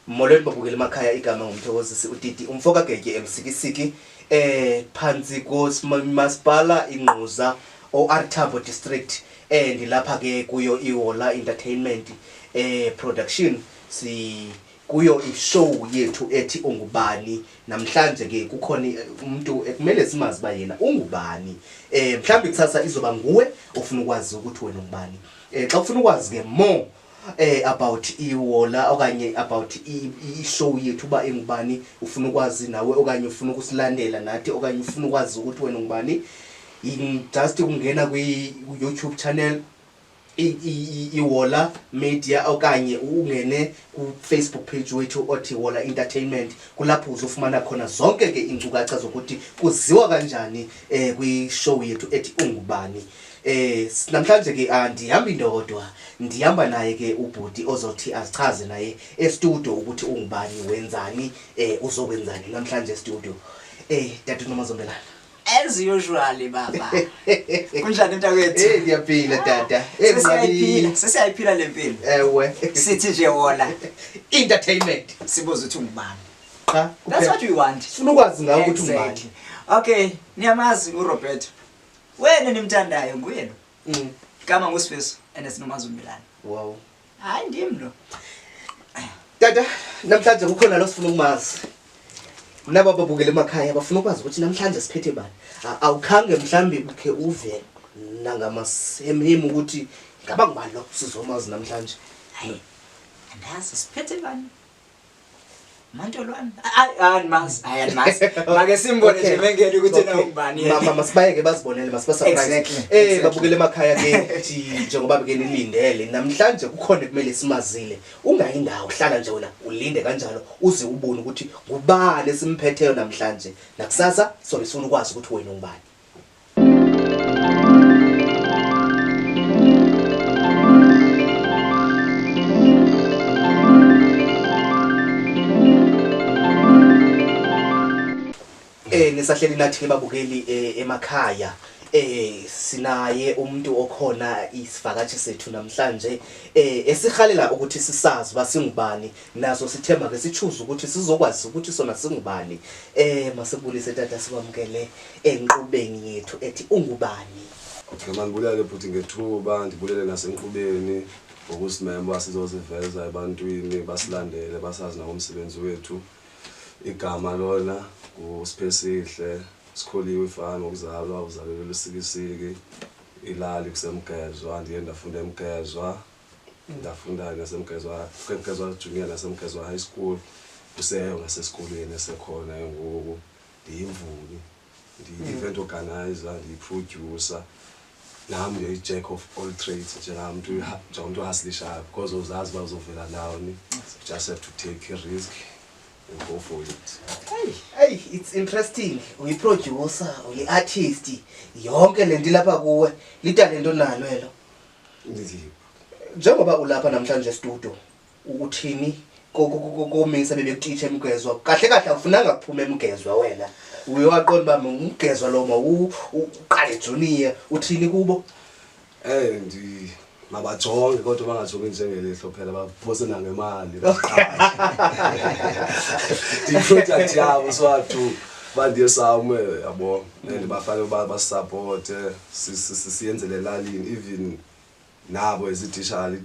molweni babukela emakhaya igama ngumthokozisi udidi umfo kagetye emsikisiki eh phansi komasipala ingquza oartabo district eh ndilapha ke kuyo ihola entertainment eh production si kuyo ishow yethu ethi ungubani namhlanje ke kukhona eh, umuntu ekumele eh, simazi uba yena ungubani um mhlawumbi kusasa izoba nguwe ofuna ukwazi ukuthi wena ungubani um xa ufuna ukwazi ke more eh about iwola okanye about i-show yethu uba engubani ufuna ukwazi nawe okanye ufuna ukusilandela nathi okanye ufuna ukwazi ukuthi wena ngubani just ukungena kwi-youtube channel iwola media okanye ungene kufacebook page wethu othi wola entertainment kulapho uzofumana khona zonke ke iinkcukacha zokuthi kuziwa kanjani um kwishow yethu ethi ungubani eh namhlanje ke andihambi ndodwa ndihamba naye ke ubhuti ozothi azichaze naye estudio ukuthi ungubani wenzani eh uzokwenzani namhlanje estudio eh dade nomazombelana as usually baba kunjani mntakwethu hey ngiyaphila tata hey mntakwethu sesiyayiphila lempilo ewe sithi nje wona entertainment sibuza ukuthi ungubani cha that's what we want sifuna ukwazi ngawe ukuthi ungubani okay niyamazi uRoberto wena nimthandayo nguye lo mm. kama ngusifiso and sinomazi umilana wow hayi ndim lo tata namhlanje kukhona lo sifuna ukumazi naba babukele emakhaya bafuna ukwazi ukuthi namhlanje siphethe bani awukhange mhlawumbi ukhe uve nangamasemhemu ukuthi ngaba ngubani lo sizomazi namhlanje hayi andazi siphethe bani Mantolwane. Hayi andimazi, hayi andimazi. Make simbone nje mengene ukuthi na ubani yena. Mama masibayeke bazibonele masibasurprise. Eh babukele emakhaya ke njengoba beke nilindele namhlanje kukhona ekumele simazile. Ungayi ndawo hlala nje wena ulinde kanjalo uze ubone ukuthi ngubani esimphetheyo namhlanje. Nakusasa sobe sifuna ukwazi ukuthi wena ungubani. Eh nisahleli nathi babukeli eh, emakhaya eh sinaye umuntu okhona isivakashi sethu namhlanje eh esihalela ukuthi sisazi basingubani naso sithemba ke sichuza ukuthi sizokwazi ukuthi sona singubani eh masibulise tata sibamkele enkqubeni yethu ethi ungubani Okay, mandibulele bhuti ngethuba ndibulele nasenkqubeni ngokusimema uba sizoziveza ebantwini basilandele basazi nangomsebenzi wethu igama lona ngusiphesihle sikholiwe ifani ngokuzalwa uzalelwe lusikisiki ilali kusemgezwa ndiye ndafunda emgezwa ndafunda nasemgezwa emgezwa junior nasemgezwa high school kuseyo ngasesikolweni esekhona engoku ndiyimvumi ndiyi-event organizer ndiyiprodyusa nam ndiyi-jack of all trades njengamntu njengomntu ohaslishayo because uzazi uba uzovela ndawoni just have to take a risk and go for it eyi it's interesting uyiprodyusa uyi-artist yonke le nto ilapha kuwe litalento nalo elo Ndi- njengoba ulapha namhlanje estudio uthini kominsa bebekutitsha emgezwa kahle kahle awufunanga kuphuma emgezwa wena uye waqonda uba mngumgezwa lo ma uqale juniya uthini kubo um mabajonge kodwa bangajongi njengelihlo phela baphose nangemali ndiyiproduct yabo swathu bandiye sawume yabo and bafanele uba basisapote siyenze le lalini even nabo as ititshala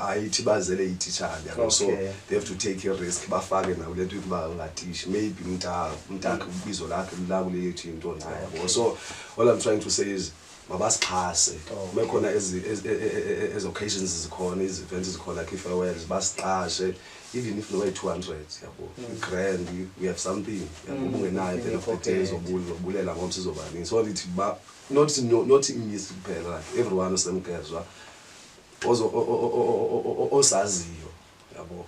ayithi bazele ititshala yabo so they have to take a risk bafake nabo le nto yokuba ngatishi maybe mnta mntakhe mm. ubizo lakhe lulakule yethu into nca yabo so all i'm trying to say is mabasixhase kube khona ezi e, e, e, occasions zikhona izi-events zikhona khe farewells basiqashe even if noba two hundred yabo mm. grand we have something yabo mm. ubungenayo then of the day zobulela ngomso izobaningi so lithi not no, not imisi kuphela like everyone osemgezwa osaziyo yabo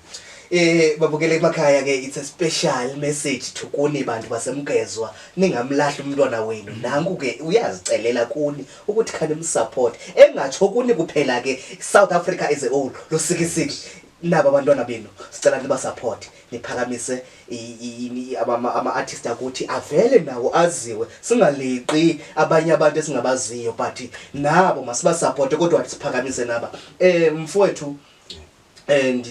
Eh babukele emakhaya ke it's a special message to kuni bantu basemgezwa ningamlahli umntwana wenu nanku ke uyazicelela kuni ukuthi khani msupport engatsho kuni kuphela ke South Africa as a whole losikisiki naba abantwana benu sicela niba support niphakamise ama-artist akuthi avele nawo aziwe singaliqi abanye abantu esingabaziyo but nabo masibasapote kodwa siphakamise naba um mfowethu and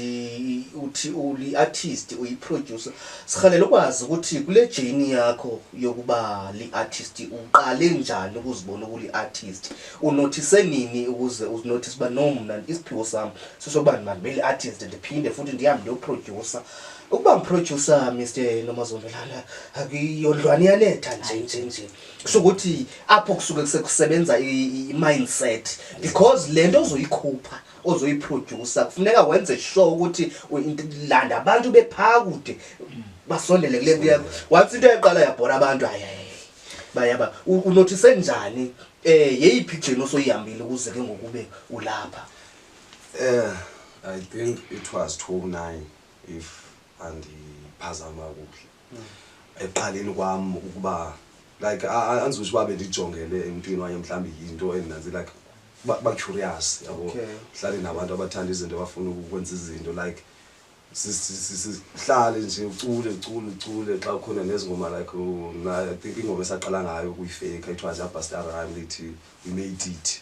uthi uli-artist uyiproducer sihalela ukwazi ukuthi kule jeni yakho yokuba li-artist uqale njani ukuzibona ukuli-artist unothise nini ukuze uzinothise uba no mna isiphiwo sam sosokubani mandibeli artist ndiphinde futhi ndihambe ndiyoprodyusa ukuba mprodyusa mr nomazondolala akuyondlwane iyanetha nje nje nje kusho ukuthi apho kusuke kusekusebenza i-mindset because le nto ozoyikhupha ozoyiprodyusa kufuneka wenze sure ukuthi landa abantu bephaa kude basondele kule nto yakho once into yaqala yabhora abantu hayi bayaba unothise njani um yeyiphi ijeni osoyihambile ukuze ke ngokube ulapha Eh, I think it was 29 if andiphazama kuhle. Eqaleni kwam ukuba like andizothi uba bendijongele emntwini waye mhlawumbi yinto endinanzi like bacurious yabo Okay. hlale nabantu abathanda izinto abafuna ukwenza izinto like si- si- si- si- sihlale nje ucule ucule ucule xa ukhona nezingoma like oh, mna i think ingoma esaqala ngayo ukuyifeyikha it was yabhastara lithi we made it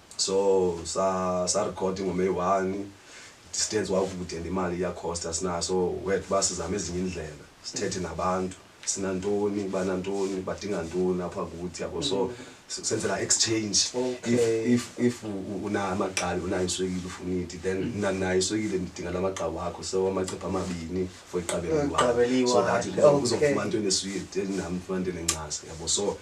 so sarekhodi ngomeyi one distance wakude and imali iyakhosta sinayo so wet uba sizame ezinye iindlela sithethe nabantu sinantoni banantoni badinga ntoni apha kuthi yabo so mm. senzela exchange if unayo amagqabi unayo iswekile ufuna iti then mm. mna ndinayo iswekile ndidinga la magqabi wakho so amacepha amabini for iqabeliwaso that uzofumana into eneswiti nam ndifumana into enencasa yabo so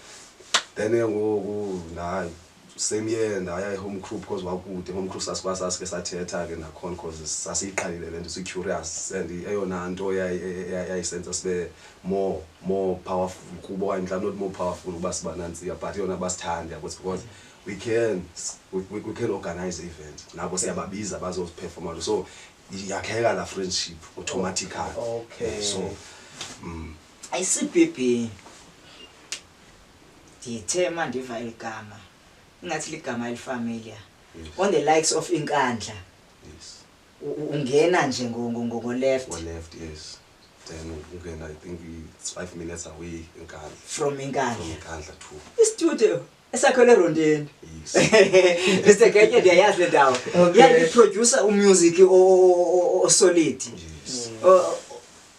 then ke ngoku nayo same year ndaya ehome crew because wakude home crew sasikwa sasike sathetha ke nakhona because sasiyiqalile le nto si-curious and eyona nto yayi- yayi- yayi- yayisenza sibe more more powerful kubo okanye mhlawumbi not more powerful ukuba siba nantsika but yona basithande yabo because we can s- we, we, we can organize event nabo siyababiza bazoziphefoma so yakheka la friendship automatically Okay. so mm, ICBB ndithe uma ndiva eli gama ingathi ligama elifamiliar on the likes of inkandla ungena nje ngoleft then ungena i think it's five minutes away inkandla from inkandla inkandla two istudio esakhele erondeni mr genye ndiyayazi le ndawo yandiproducer umusic osolid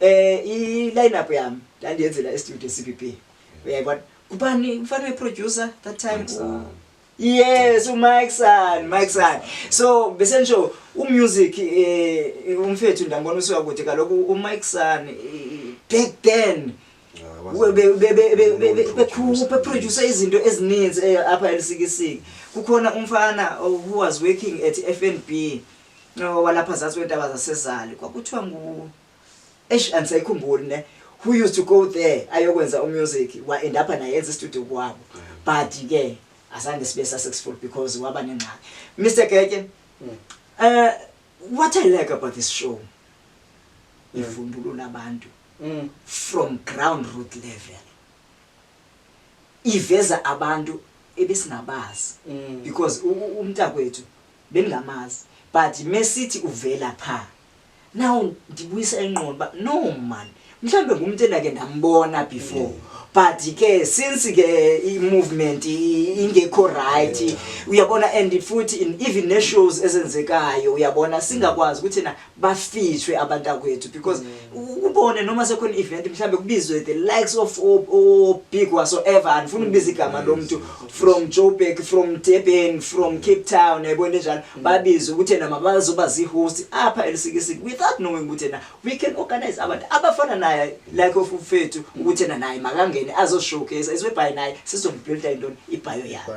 Eh i line up yam ndandiyenzela e studio CBB. Uyayibona? Kubani mfana we producer that time? Msana. Yes, uMike San, Mike San. So bese ngisho umusic eh umfethu ndambona usuka kude kaloku uMike San eh, back then bekhupha producer izinto ezininzi eh, apha elisikisiki kukhona umfana oh, who was working at FNB no walapha zazi weentaba zasezali kwakuthiwa ngu eish andisayikhumbuli ne who used to go there ayokwenza umusic wa-end apha naye enza istudio kwabo but ke azange sibe successful because waba nengxaki mr geke um uh, what i like about this show mm. ivumbulula abantu mm. from ground root level iveza abantu ebesingabazi mm. because umntakwethu bengingamazi but mesithi uvela pha now ndibuyisa ingqondo uba no man mhlawumbi ngumntu endake ndambona before mm. but ke since ke i-movement ingekho right uyabona and futhi even ne-shows ezenzekayo uyabona singakwazi ukuthi na bafishwe abantakwethu because mm. ubone noma sekhona i-event mhlawumbe kubizwe the likes of obig wasoever andifuna ukubiza igama lo mntu from joburg from durban from cape town yayibona enjalo mm. babizwe ukuthi yena mabazoba zii-host apha elisikisiki without knowing ukuthi yena we can organize abantu abafana naye like of ufethu ukuthi yena naye makangene azoshowcase iswebhayi naye sizombhilda intoni ibhayo yakhe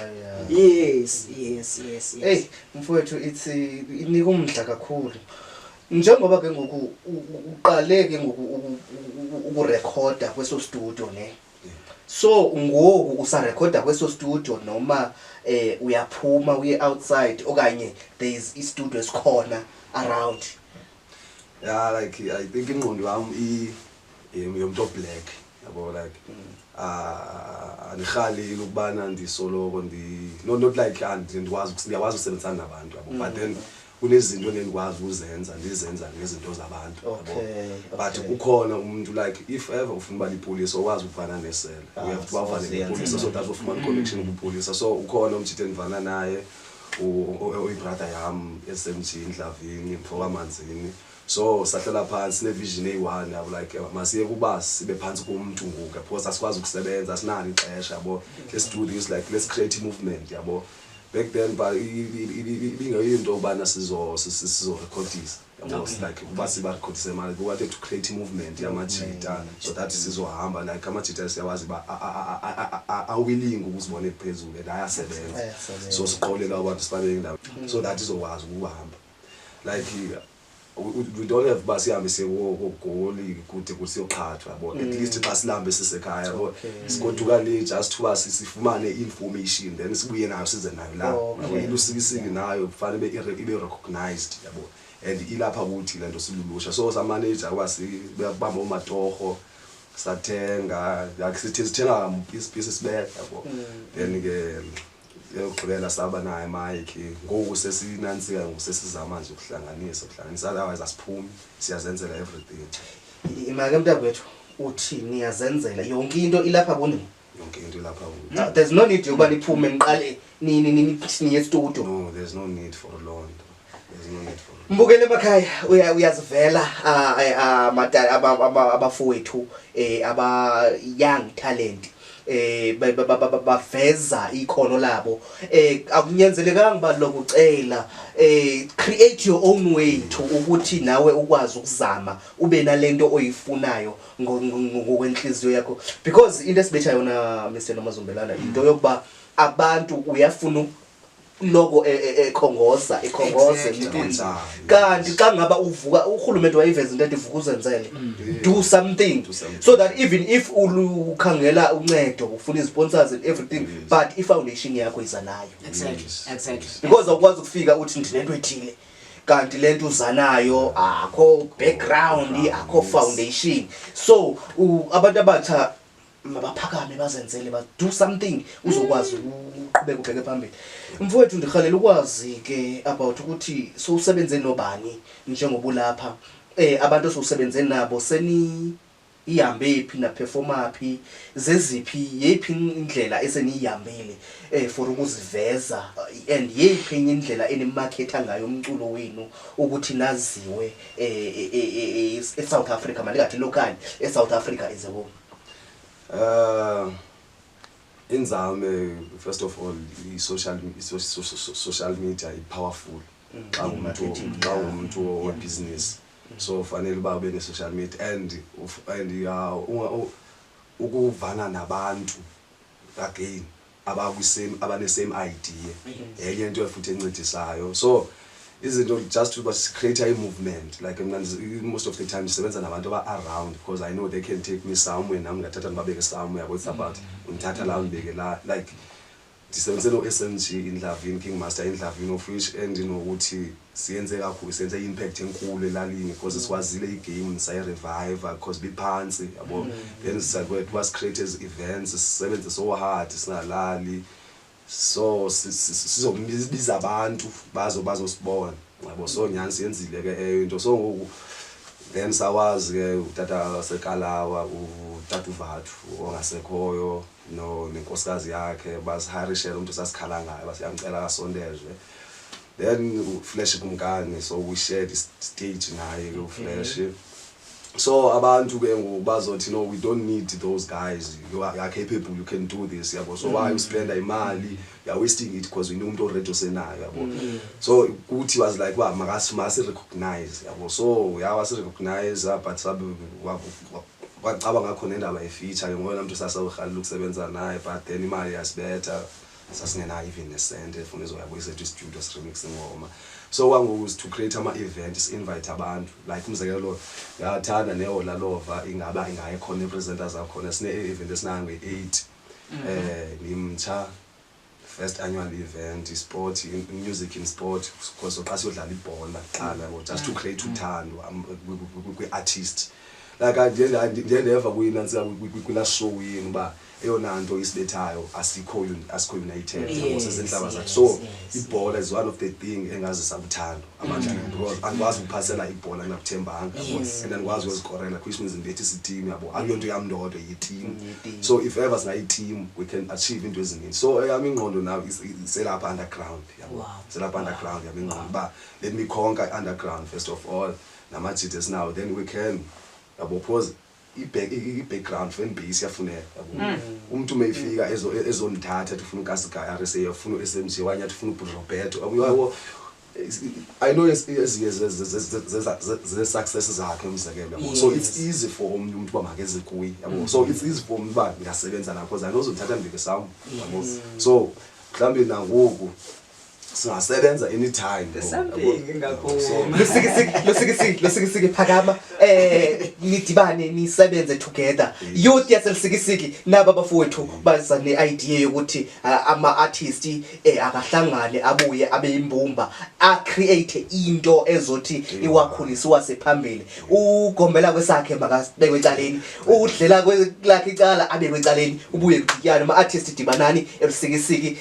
yes yes yes yes mfowethu it's inika umdla kakhulu njengoba ke ngoku uqale ke ngoku ukurekhoda kweso studio ne so ngoku usarekhoda kweso studio noma eh uyaphuma uye outside okanye there is i studio esikhona around yeah like i think ingqondo yam i yomntu oblack yabo like ah, andirhaleli ukubana ndisoloko ndi- no not like ah, ndi- ndikwazi ukus- ndiyakwazi ukusebenzisana nabantu yabo but then kunezinto endendikwazi uzenza ndizenza ngezinto zabantu yabo Okay, but okay. ukhona umuntu like if ever ufuna uba lipolisa okwazi ukuvana nesela Ah, uyavuthi so Mm. bavane ziyanceda. nepolisa so that ufumana i-connection kupolisa so ukhona umtshithe endivana naye u- u- uyibrother yam esemjini ndlavini mfokamanzini so sahlela phantsi nevision eyi-one yabo like eh, masiye kuba sibe phantsi komntu ngoku because asikwazi ukusebenza asinalo ixesha yabo let's do this like let's create i-movement yabo back then but ibingeyo into yobana sizorekhodisa like uba sibarekhodise mali we wanted to create i-movement yamajita so that sizohamba like amajita siyawazi uba awilling ukuzibona ephezulu and ayasebenza so siqolela abantu sifanele indawo so that izokwazi ukuhamba like we don't have uba sihambe siyekoogoli kude kuthi siyoqhathwa yabo at mm. least xa silambe sisekhaya yabo sigoduka le just uba sifumane i-information then sibuye nayo size nayo la oh, yabo ilusikisiki nayo kufanele ibe recognized yabo and ilapha kuthi le nto silulusha so samaneja uba sibamba oomatorho sathenga like sithi sithenga piece piece sibeka yabo mm. then ke yokugqibela saba naye mike ngoku sesinantsika ngoku sesizama nje ukuhlanganisa ukuhlanganisa otherwise asiphumi siyazenzela everything imake mntakwethu uthi niyazenzela yonke into ilapha kunini yonke into ilapha kunini there's no need yokuba niphume niqale nini nini niye estudio no there's no need for loo nto Mbukele emakhaya uya- uyazivela ah, eh, ah, mada- aba- aba- abafowethu eh, aba young talent eh ba- ba- ba- ba- ba- baveza ikhono labo eh akunyanzelekanga uba lokucela eh create your own way to ukuthi nawe ukwazi ukuzama ube nalento oyifunayo ngo- ngo- ngo- ngokwenhliziyo yakho because into esibetha yona Mr Nomazumbelana into yokuba abantu uyafuna u- loko e- e- ekhongoza ikhongoze Exactly, mntwana. wenzayo. kanti xa ngaba uvuka urhulumente wayiveza into ethi vuka uzenzele do something Do something. so that even if ulu- ukhangela uncedo ufuna izisponsors and everything but ifoundation yakho iza nayo Exactly. Exactly. because awukwazi ukufika uthi ndinento ethile kanti le nto uza nayo akho background akho foundation so u- abantu abatsha mabaphakame bazenzele ba do something uzokwazi uqhubeka ubheke phambili mfowethu ndirhalela ukwazi ke about ukuthi sowusebenze nobani njengoba ulapha um eh, abantu esiwusebenze nabo seni ihambe phi naphefoma phi zeziphi yeyiphi indlela eseniyihambile um for ukuziveza and yeyiphi enye indlela enimakhetha ngayo umculo wenu ukuthi naziwe um esouth africa mandingathi lokanye esouth africa is a wome Uh, inzame first of all i-social social media i-powerful mm. xa umntu xa umntu webhizinisi so ufanele uba ube ne-social media and and ukuvana nabantu again abakwisame abanesame idea yenye into futhi encedisayo so izinto just uba sicreate i-movement like mna most of the time ndisebenza nabantu aba-around because i know they can take me somewhere nam ngathatha ndibabeke somewhere yabo it's about undithatha la undibeke la like ndisebenze no-s m g indlavini king master indlavini of which endinokuthi you know, siyenze kakhulu senze impact enkulu elalini because sikwazile igame sayireviva because biphantsi yabo mm. then sakwethu was create as events sisebenze so hard singalali so sizobiza abantu bazo bazosibona yabo so nyani siyenzile ke eyo into so ngoku then sawazi ke utata sekalawa utata uvathu ongasekhoyo no nenkosikazi yakhe basiharishela umntu sasikhala ngayo basiyamcela kasondezwe then uflash kumkani so we shared stage naye ke uflash okay. so abantu ke ngoku bazothi no we don't need those guys you are, you are capable you can do this yabo so mm. why uspenda imali you are wasting it because wena umuntu already osenayo yabo mm. so kuthi was like uba makasi masi recognize yabo so yawa si recognize ah, but sabe wacaba ngakho nendaba efeature ke ngoyena mntu sasawurhalela ukusebenza naye but then imali yasibetha sasingenayo even nesente efuna izoyabuyisa ethu istudio siremix ingoma so kwangoku is to create ama-event si-invite abantu like umzekelo lo yathanda nehola lova ingaba ingaye khona iipresenters akhona sine-event esinange-eight um eh, ngimtsha first annual event isport music in sport because oqa siyodlala ibhola qala just to create mm. uthando um, kwi-artist like ndiye ndeva kuyinantsika kwi-last show yini uba like, eyona nto isibethayo asikho asikho united yabo sezinhlaba zakhe so ibhola is one of the thing engazisa uthando abantu mm. because andikwazi ukuphasela ibhola ndingakuthembanga yabo and andikwazi ukuzikorela which means ndibethi siteam yabo akuyo nto yam ndodwa yiteam mm, so if ever singayiteam we can achieve into eziningi so eyam ingqondo now selapha underground yabo selapha underground yam ingqondo uba let me conquer underground first of all namajide esinawo then we can yabo because i-background fan base iyafuneka hmm. umntu uma efika ezondithatha athi ufuna ukasigaya rsa afuna u-smg wanye athi ufuna ubhuti roberto yabo i know ezinye zee-success zakhe umzekelo so it's easy for omnye umntu uba makeze kuye yabo hmm. so it's easy for omnye uba ndingasebenza nakho zani ozondithatha ndibeke sam yabo so mhlawumbi nangoku singasebenza anytime losikisiki phakama um nidibane nisebenze together youth yaselisikisiki naba bafowethu baza ne-idea yokuthi uh, ama-artist um eh, akahlangane abuye abe yimbumba acreate into ezothi iwakhulise iwase phambili ugombela kwesakhe makabekwe ecaleni udlela lakhe icala abekwe ecaleni ubuye kudityane ama-artist dibanani elusikisiki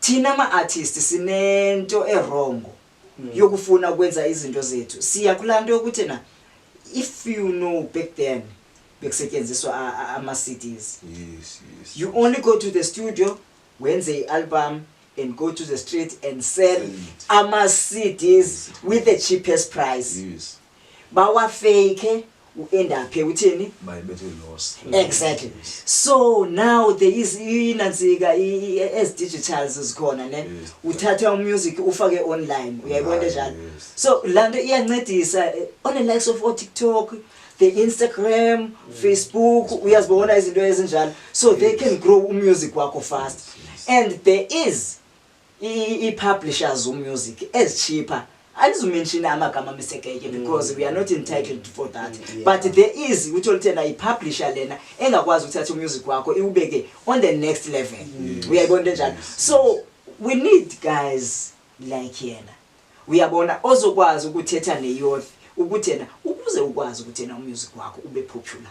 thina ma-artist sinento erongo mm. yokufuna ukwenza izinto zethu siya kulaa nto yokuthi na if you know back then bekusetyenziswa ama-cds yes, yes. you only go to the studio wenze i-album and go to the street and sell ama-cds with the cheapest price yes. bawafeyikhe uendaphe uthini exactly so now there is inantsika as digitals zikhona ne uthatha umusic ufake online uyayibona njalo so laa nto iyancedisa eh, on the likes of otiktok the instagram mm. facebook uyazibona izinto ezinjalo so they can grow umusic wakho fast and there is ii-publishers zomusic ezitshipa andizumenshina amagama misekeke mm. because we are not entitled for that mm, but there is ukuthi oluthena yipublisher lena engakwazi ukuthatha umusic wakho iwubeke on the next level mm. uyayibona into enjalo so we need guys like yena uyabona ozokwazi ukuthetha neyouth ukuthi yena ukuze ukwazi ukuthi yena umusic wakho ube popular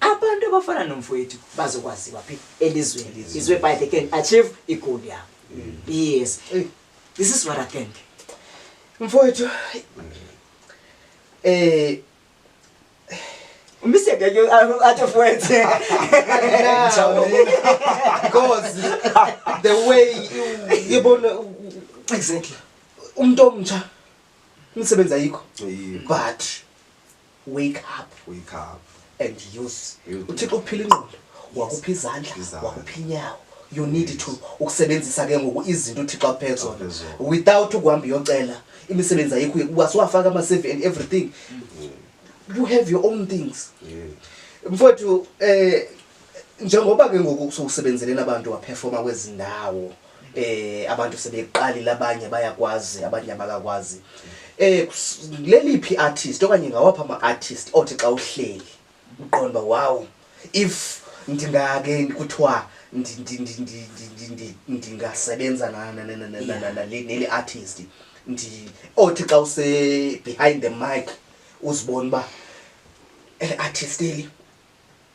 abantu abafana nomfowethu bazokwaziwa phi elizweni izwe by they can achieve igoal yabo mm. yes this is what i think mfowethu eh Mr. Gajo, at your friends. Because the way you, you born, exactly. Umntu omtsha umsebenzi ayikho. But wake up wake up and use uthixo ukuphila ingqondo wakupha izandla wakupha inyawo you need to ukusebenzisa ke ngoku izinto uthixo akuphe zona without ukuhamba uyocela imisebenzi ayikho ukwase wafaka ama-cv and everything mm. you have your own things mfowethu um njengoba ke ngoku sowusebenzeleni abantu waphefoma kwezi ndawo eh abantu sebeqalile abanye bayakwazi abanye abakakwazi eh leliphi artist okanye ngawapha ama artist othi xa uhleli uqonda wow if ndingake kuthiwa ndingasebenza neli artist othi xa use behind the mic uzibona uba eh, artist eli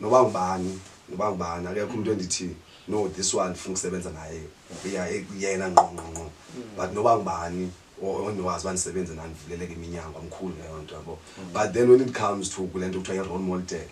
noba ngubani noba ngubani akekho umntu endithi no this one ndifuna ukusebenza naye uya yena ngqongqongqo but noba ngubani o- ondiwazi uba ndisebenze nandivuleleke iminyango amkhulu leyo nto yabo but then when it comes to kule nto kuthiwa i-role model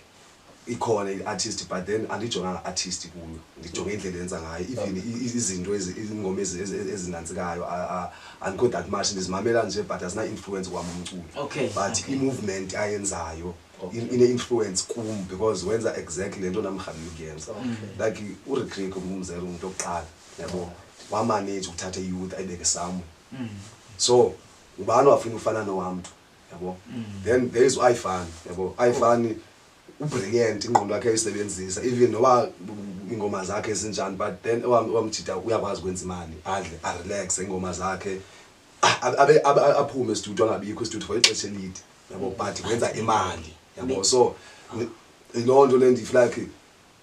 ikhona i-artist but then andijonganga artist kuyo ndijonge indlela enza ngayo even i- i- izinto ezi- iingoma ezi- ezi- ezinantsikayo a- a- andikho that much ndizimamela nje but azina-influence kwam umculo Okay, but okay. i-movement ayenzayo okay. in, ine-influence kum because wenza exactly le nto namrhabile ukuyenza okay. like uretrick umzela umntu okuqala yabo wamaneji ukuthatha iyouth ayibeke samu mm. so ubani wafuna ufana nowamntu yabo mm. then there is uifan yabo uifan oh. ubrilliant ingqondo yakhe ayisebenzisa even noba ingoma zakhe ezinjani but then owamjida uyakwazi ukwenza imali adle arelaxe ingoma zakhe ah, aphume estudio angabikho estudio for ixesha elide yabo but wenza imali yabo so loo nto le ndifuna like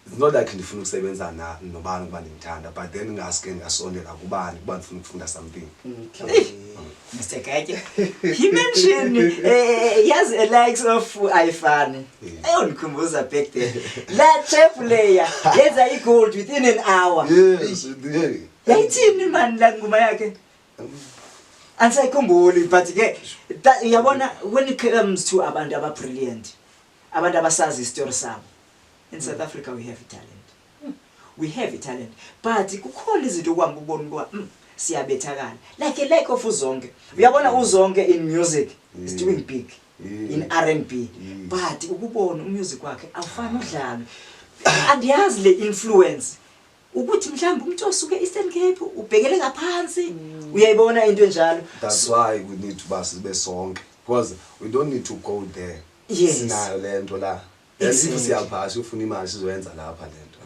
it's not like ndifuna ukusebenza na nobani ukuba ndimthanda but then ngaske ndingasondela kubani kuba ndifuna ukufunda something Mr. Kake, he mentioned uh, he has a likes of iFan. Ayondikhumbuza back then. La chef layer yenza i-gold within an hour. yes yeah. Yayithini mani la ngoma yakhe? andisayikhumbuli but ke uyabona when it comes to abantu ababrilliant abantu abasazi isitori sabo in south africa we have italent we have italent but kukhona izinto okuhamba ubona ukuba mm, siyabethakala like a like of uzonke uyabona uzonke in music is doing mm. big mm. in r n b but ukubona umusic wakhe awufani udlalo andiyazi le influence ukuthi mhlawumbe umuntu osuke eastern cape ubhekele ngaphansi mm. uyayibona into enjalo that's why we need to base sibe sonke because we don't need to go there yes. sinayo le nto la yasifu siyaphasha ufuna imali sizoyenza lapha le nto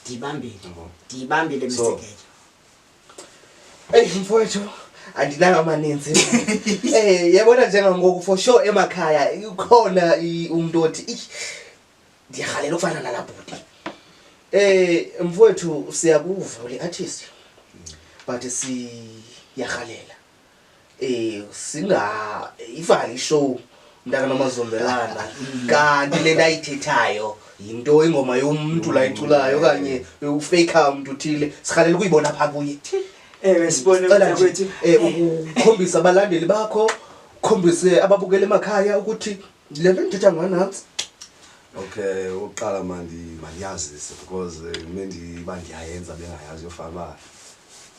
ndiyibambile ndiyibambile msekeje eyi mfowethu andinayo amaninzi um yebona njengangoku for sure emakhaya ikhona umntu othi ndiyarhalela ufana nala bhuti um mfowethu siyakuva uliathisi but siyarhalela um singayivali ishow mntakanomazumvelana mm. kanti le nto ayithethayo yinto ingoma yomntu la iculayo okanye ufeyikha umntu uthile sirhalela ukuyibona phaa kuye ewe sibone kwethu um ukukhombisa abalandeli bakho ukhombise ababukela emakhaya ukuthi ndile nto ndithetha nganantsi okay ukuqala mandiyazise because eh, me ndiba ndiyayenza bengayazi yofana uba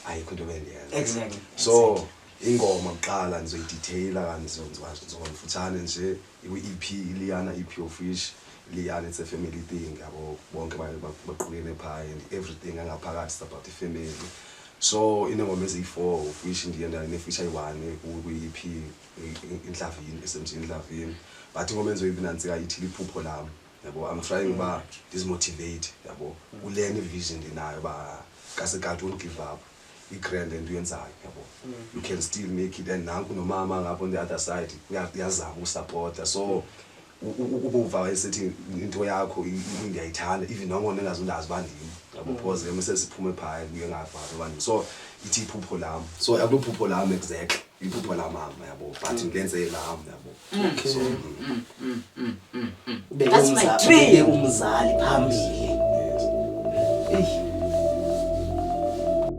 ayikho into bendiyenza exactly so ingoma kuqala ndizoyiditheyila kanti ndizonzomfutshane nje ikwi-ep iliyana ep ofish liyana it's a family thing yabo bonke baqukene phaa and everything angaphakathi is about ifamily so inengoma eziyi-four ofish ndiye ndinefisha yi-one kwi-ep intlavini esemthini intlavini but ngoba enziwe ibinantsika ithi liphupho lam yabo i'm trying uba ndizimotivate yabo kule ni vision ndinayo uba kasekati won't give up i-grand and uyenzayo yabo mm. you can still make it and nanku nomama ngapho on the other side uyazama usapota so ukuva wayesithi into yakho ndiyayithanda even noko ndingazundazi uba ndim ngabuphoze ke mesesiphume phaya kuye ngavazi uba ndim so ithi iphupho lam so akuliphupho lam exactly iphupho lamama yabo but mm. ngenze lam yabo mm. so ubeke umzali phambili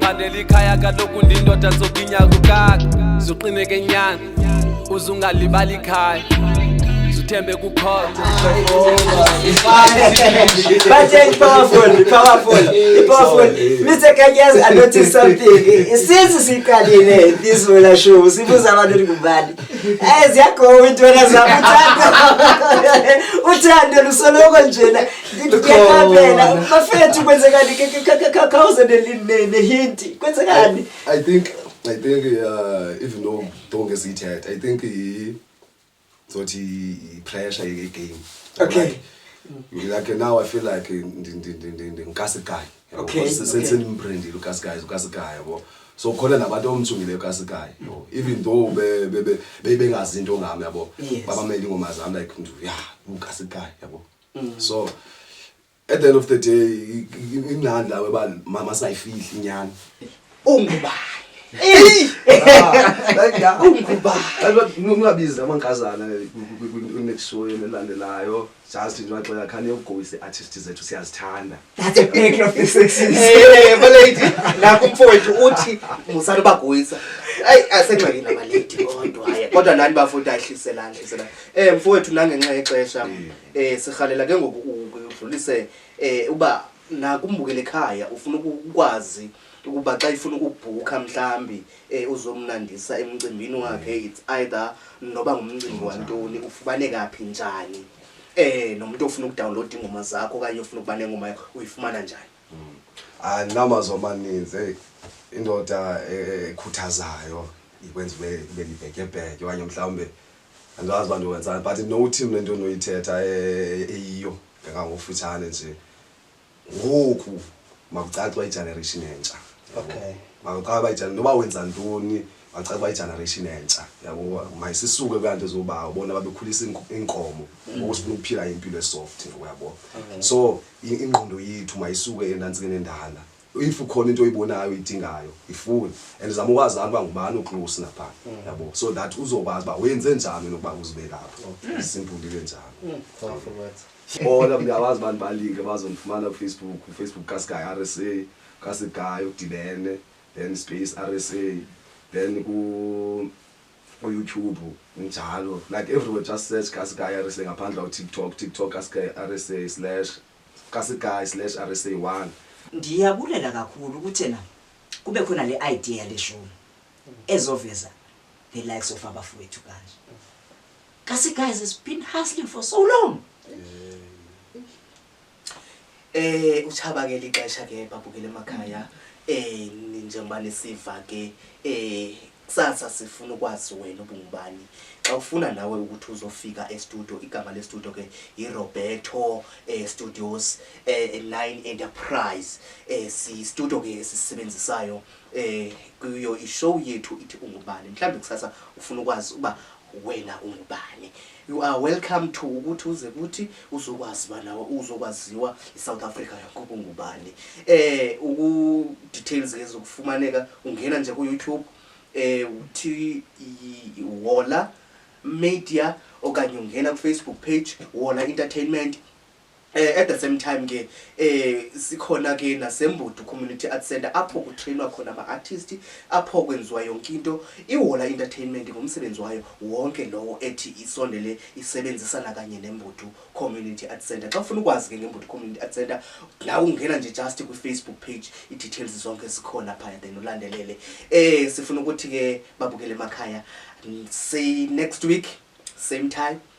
Phandela ikhaya kaloku ndindoda zokinya kukaka zuqineke nyana uze ungalibali ikhaya zuthembe kukhona Batsheni powerful, powerful, powerful. Mr. Kanyaz, I noticed something. Since siqalile this wena show, sibuza abantu ukuthi ngubani. Eh ziyagowa intwana zakho uthando. Uthando lusoloko njena. Ngiyaphela bafethu kwenzekani khawuze nehinti kwenzekani I think I think uh, even though don't get it yet I think he thought he pressure ye game Okay like now I feel like ndinkasikhayi okay sendimbrendile ukasikhayi ukasikhayi yabo so khona nabantu omthungileyo kasikayo no even though be be be bengazi into ngami yabo babameli ingoma zami like mntu ya ukasikayo yabo mm. so at the end of the day ingcani lawe uba mama sayifihli inyani ungubani ungabizi amankazana kwinext show elandelayo just nje waxela khani yogoyise artist zethu siyazithanda That's a picture of the sexes. Eh, eh balady, nakho umfowethu uthi musana bagoyisa. Ay asengxakini nabalady kodwa hayi. Kodwa nani bafunda ahliselana hliselana. Eh mfowethu nangenxa yexesha mm. eh sihalela ke ngoku udlulise eh uba nakumbukele ekhaya ufuna ukwazi ukuba xa ifuna ukubhukha mhlambi eh uzomnandisa emcimbini wakhe it's either noba ngumcimbi wantoni ufubaneka phi njani Eh nomuntu ofuna ukudownload ingoma zakho okanye ofuna ukuba nengoma yakho uyifumana njani? Mm. Ah namazwi amaninzi hey indoda e, e, ekhuthazayo ikwenza ube ube libhekebheke okanye mhlawumbe andazi uba ndiwenzani but no team le nto ndinoyithetha e, eyiyo ngangangofutshane nje ngoku makucaca uba igeneration entsha okay makucaca uba igeneration noba wenza ntoni makucaca uba igeneration entsha yabo mayisisuke kula nto zobawo bona babekhulisa iinkomo mm. ngoku sifuna ukuphila impilo esoft ngoyabo so ingqondo yethu mayisuke enantsike nendala if ukhona into oyibonayo idingayo ifuni and zama ukwazana uba ngubani uclose napha mm. yabo so that uzokwazi uba wenze njani nokuba uzibe lapho mm. simple into enjalo mm. sibona oh, uyawazi abantu balike bazondifumana kufacebook ufacebook kasky r s a kasky udibene then space r s a then kuyoutube njalo like everywhere just search kasky r s a ngaphandle utiktok tiktok kasky r s a slash kasky slash r s a one ndiyabulela kakhulu kuthena kube khona le idea yaleshumi ezoveza the likes of abafowethu kanje Kasi guys has been hustling for so long. Eh uchaba ke lixesha ke babukele emakhaya eh njengoba nisiva ke eh kusasa sifuna ukwazi wena ubungubani xa ufuna nawe ukuthi uzofika estudio igama lestudio ke yiroberto eh, studios eh, line enterprise eh, sistudio ke esisebenzisayo eh, kuyo ishow yethu ithi ungubani mhlawumbi kusasa ufuna ukwazi uba wena ungubani you are welcome to ukuthi uze kuthi uzokwazi uba nawe uzokwaziwa isouth africa yakuba ungubani eh uku-details ke zokufumaneka ungena nje kuyoutube eh uthi wola media okanye ungena kufacebook page wola entertainment Eh, at the same time ke eh sikhona ke nasembudu community art center apho kutrainwa khona ama artist apho kwenziwa yonke into ihola entertainment ngomsebenzi wayo wonke lowo ethi isondele isebenzisana kanye nembudu community art center xa ufuna ukwazi ke ngembudu community art center nawe ungena nje just kwi facebook page i details zonke sikhona phaya then ulandelele eh sifuna ukuthi ke babukele emakhaya say next week same time